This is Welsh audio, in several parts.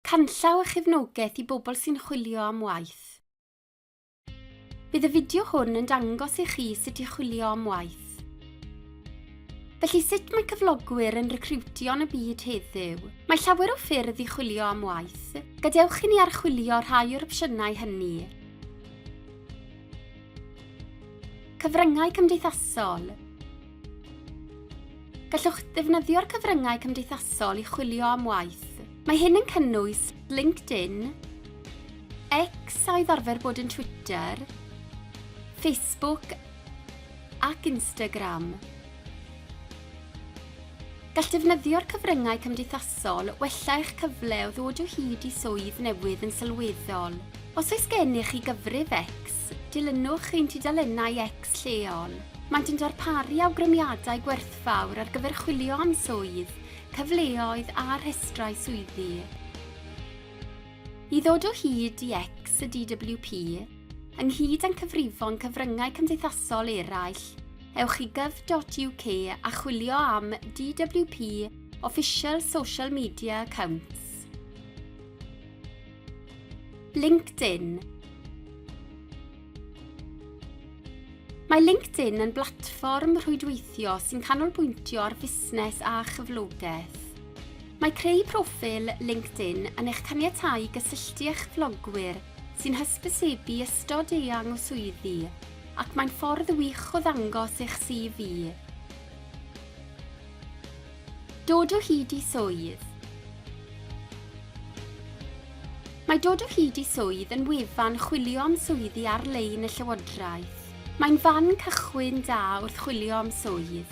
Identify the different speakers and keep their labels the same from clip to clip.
Speaker 1: Canllaw a chefnogaeth i bobl sy'n chwilio am waith. Bydd y fideo hwn yn dangos i chi sut i chwilio am waith. Felly sut mae cyflogwyr yn recriwtio yn y byd heddiw? Mae llawer o ffyrdd i chwilio am waith. Gadewch i ni archwilio rhai o'r opsiynau hynny. Cyfryngau cymdeithasol. Gallwch ddefnyddio'r cyfryngau cymdeithasol i chwilio am waith. Mae hyn yn cynnwys LinkedIn, X a oedd arfer bod yn Twitter, Facebook ac Instagram. Gall defnyddio'r cyfryngau cymdeithasol wella eich cyfle o ddod o hyd i swydd newydd yn sylweddol. Os oes gennych chi gyfrif X, dilynwch ein tudalennau X Tax lleol. Maent yn darparu awgrymiadau gwerthfawr ar gyfer chwilio am swydd, cyfleoedd a rhestrau swyddi. I ddod o hyd i X y DWP, ynghyd â'n cyfrifon cyfryngau cymdeithasol eraill, ewch i gov.uk a chwilio am DWP Official Social Media Accounts. LinkedIn Mae LinkedIn yn blatfform rhwydweithio sy'n canolbwyntio ar fusnes a chyflogaeth. Mae creu proffil LinkedIn yn eich caniatáu gysylltu â'ch blogwyr sy'n hysbysebu ystod eang o swyddi, ac mae'n ffordd wych o ddangos eich CV. Dod o hyd i swydd. Mae dod o hyd i swydd yn wefan chwilio am swyddi ar-lein y Llywodraeth. Mae'n fan cychwyn da wrth chwilio am swydd.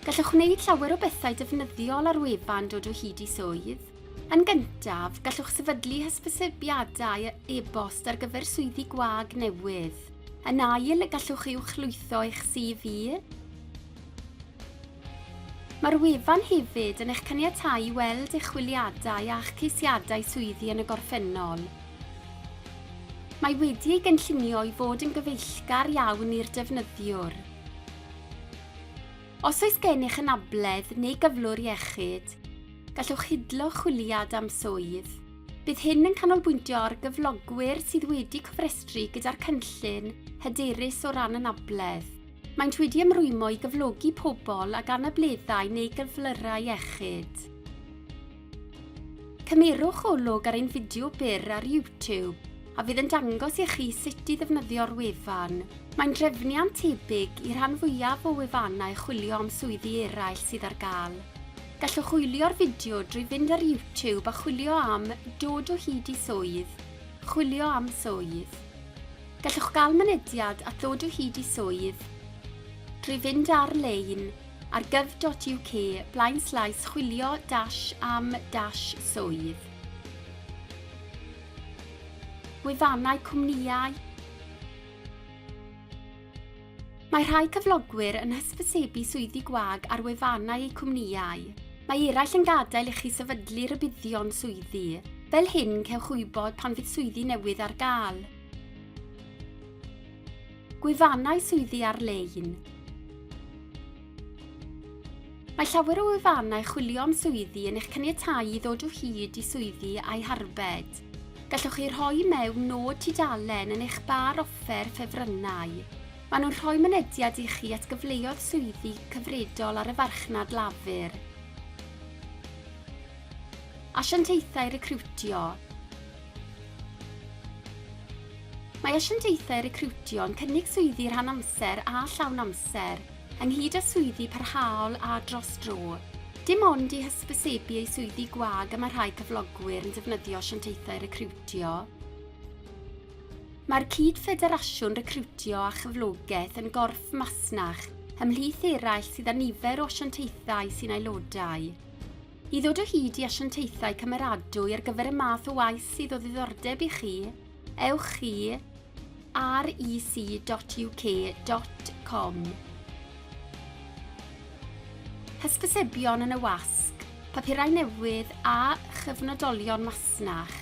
Speaker 1: Gallwch wneud llawer o bethau defnyddiol ar wefan Dod o hyd i swydd. Yn gyntaf, gallwch sefydlu hysbysebiadau e-bost ar gyfer swyddi gwag newydd. Yn ail, gallwch uwchlwytho eich CV. Mae'r wefan hefyd yn eich caniatáu i weld eich chwiliadau a'ch ceisiadau swyddi yn y gorffennol. Mae wedi ei gynllunio i fod yn gyfeillgar iawn i'r defnyddiwr. Os oes gennych anabledd neu gyflwr iechyd, gallwch hidlo chwiliad am swydd. Bydd hyn yn canolbwyntio ar gyflogwyr sydd wedi cofrestru gyda'r cynllun hyderus o ran anabledd. Maent wedi ymrwymo i gyflogi pobl ag anableddau neu gyflyrau iechyd. Cymerwch olwg ar ein fideo byr ar YouTube, a fydd yn dangos i chi sut i ddefnyddio'r wefan. Mae'n drefniant tebyg i rhan fwyaf o wefannau chwilio am swyddi eraill sydd ar gael. Gallwch wylio'r fideo drwy fynd ar YouTube a chwilio am 'Dod o hyd i swydd', 'Chwilio am swydd'. Gallwch gael mynediad at ddod o hyd i swydd drwy fynd ar-lein ar gov.uk blaenslaes chwilio dash am dash swydd. Gwefannau cwmnïau Mae rhai cyflogwyr yn hysbysebu swyddi gwag ar wefannau eu cwmnïau. Mae eraill yn gadael i chi sefydlu rhybuddion swyddi. Fel hyn cewch wybod pan fydd swyddi newydd ar gael. Gwefannau swyddi ar-lein Mae llawer o wefannau chwilio am swyddi yn eich caniatáu i ddod o hyd i swyddi a'u harbed. Gallwch chi rhoi mewn nod tudalen yn eich bar offer ffefrynnau. Maen nhw'n rhoi mynediad i chi at gyfleoedd swyddi cyfredol ar y farchnad lafur. Asiantaethau recriwtio Mae asiantaethau recriwtio'n cynnig swyddi rhan-amser a llawn-amser, ynghyd â swyddi parhaol a dros dro. Dim ond i hysbysebu eu swyddi gwag y mae rhai cyflogwyr yn defnyddio asiantaethau recriwtio. Mae'r Cyd-Ffederasiwn Recriwtio a Chyflogaeth yn gorff masnach, ymhlith eraill sydd â nifer o asiantaethau sy'n aelodau. I ddod o hyd i asiantaethau cymeradwy ar gyfer y math o waith sydd o ddiddordeb i chi, ewch i rec.uk.com. Hysbysebion yn y wasg, papurau newydd a chyfnodolion masnach.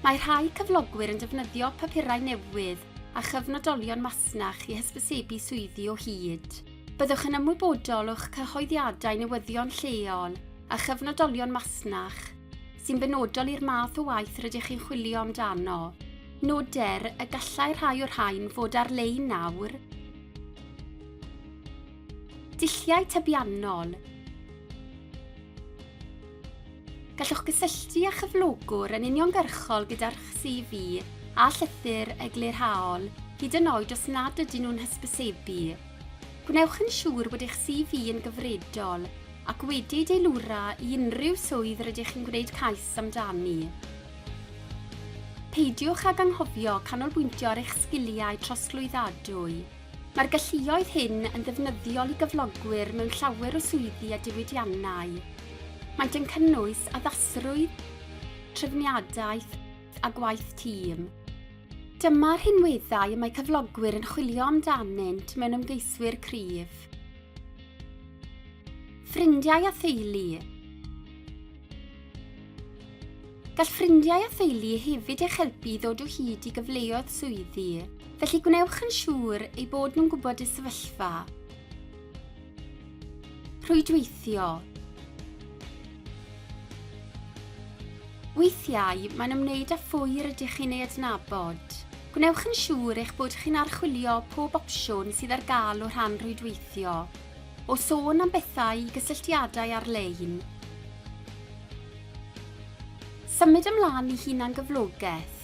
Speaker 1: Mae rhai cyflogwyr yn defnyddio papurau newydd a chyfnodolion masnach i hysbysebu swyddi o hyd. Byddwch yn ymwybodol o'ch cyhoeddiadau newyddion lleol a chyfnodolion masnach sy'n benodol i'r math o waith rydych chi'n chwilio amdano. Noder y gallai rhai o'r rhain fod ar-lein nawr. Dulliau tybiannol. Gallwch gysylltu â chyflogwr yn uniongyrchol gyda'r CV a llythyr eglurhaol, hyd yn oed os nad ydyn nhw'n hysbysebu. Gwnewch yn siŵr bod eich CV yn gyfredol ac wedi ei deilwra i unrhyw swydd rydych chi'n gwneud cais amdani. Peidiwch ag anghofio canolbwyntio ar eich sgiliau trosglwyddadwy. Mae'r galluoedd hyn yn ddefnyddiol i gyflogwyr mewn llawer o swyddi a diwydiannau. Maent yn cynnwys addasrwydd, trefniadaeth a gwaith tîm. Dyma'r rhinweddau y mae cyflogwyr yn chwilio amdanynt mewn ymgeiswyr cryf. Ffrindiau a theulu Gall ffrindiau a theulu hefyd eich helpu i ddod o hyd i gyfleoedd swyddi, felly gwnewch yn siŵr eu bod nhw'n gwybod y sefyllfa. Rhwydweithio Weithiau mae'n ymwneud â phwy rydych chi'n ei adnabod. Gwnewch yn siŵr eich bod chi'n archwilio pob opsiwn sydd ar gael o rhan rhwydweithio. O sôn am bethau i gysylltiadau ar-lein, Symud ymlaen i hunangyflogaeth.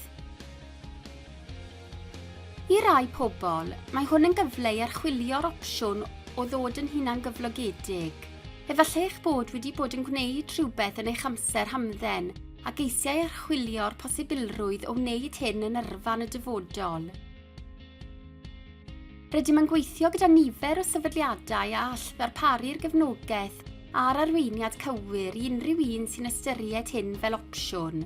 Speaker 1: I rai pobl, mae hwn yn gyfle i archwilio'r opsiwn o ddod yn hunangyflogedig. Efallai eich bod wedi bod yn gwneud rhywbeth yn eich amser hamdden ac eisiau archwilio'r posibilrwydd o wneud hyn yn yrfa yn y dyfodol. Rydym yn gweithio gyda nifer o sefydliadau a all ddarparu'r gefnogaeth a'r arweiniad cywir i unrhyw un sy'n ystyried hyn fel opsiwn.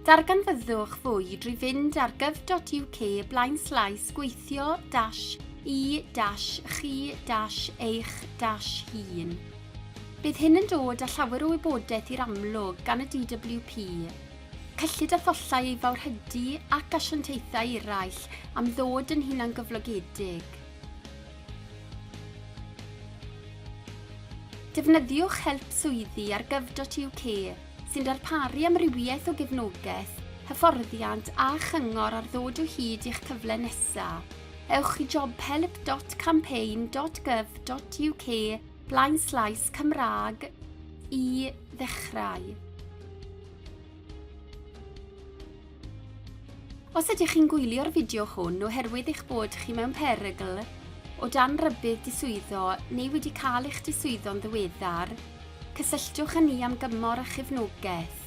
Speaker 1: Darganfyddwch fwy drwy fynd ar gov.uk blaenslaes gweithio dash i dash chi dash eich dash hun. Bydd hyn yn dod â llawer o wybodaeth i'r amlwg gan y DWP, cyllid a thollau ei fawrhydi ac asiantaethau eraill am ddod yn hunangyflogedig. Defnyddiwch help swyddi ar gov.uk sy'n darparu amrywiaeth o gefnogaeth, hyfforddiant a chyngor ar ddod o hyd i'ch cyfle nesaf. Ewch i jobhelp.campaign.gov.uk blaenslaes Cymraeg i ddechrau. Os ydych chi'n gwylio'r fideo hwn oherwydd eich bod chi mewn perygl o dan rybudd diswyddo neu wedi cael eich diswyddo'n ddiweddar, cysylltwch â ni am gymor a chefnogaeth.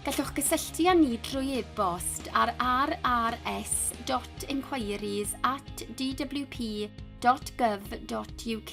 Speaker 1: Gallwch gysylltu â ni drwy e-bost ar rrs.inquiries@dwp.gov.uk.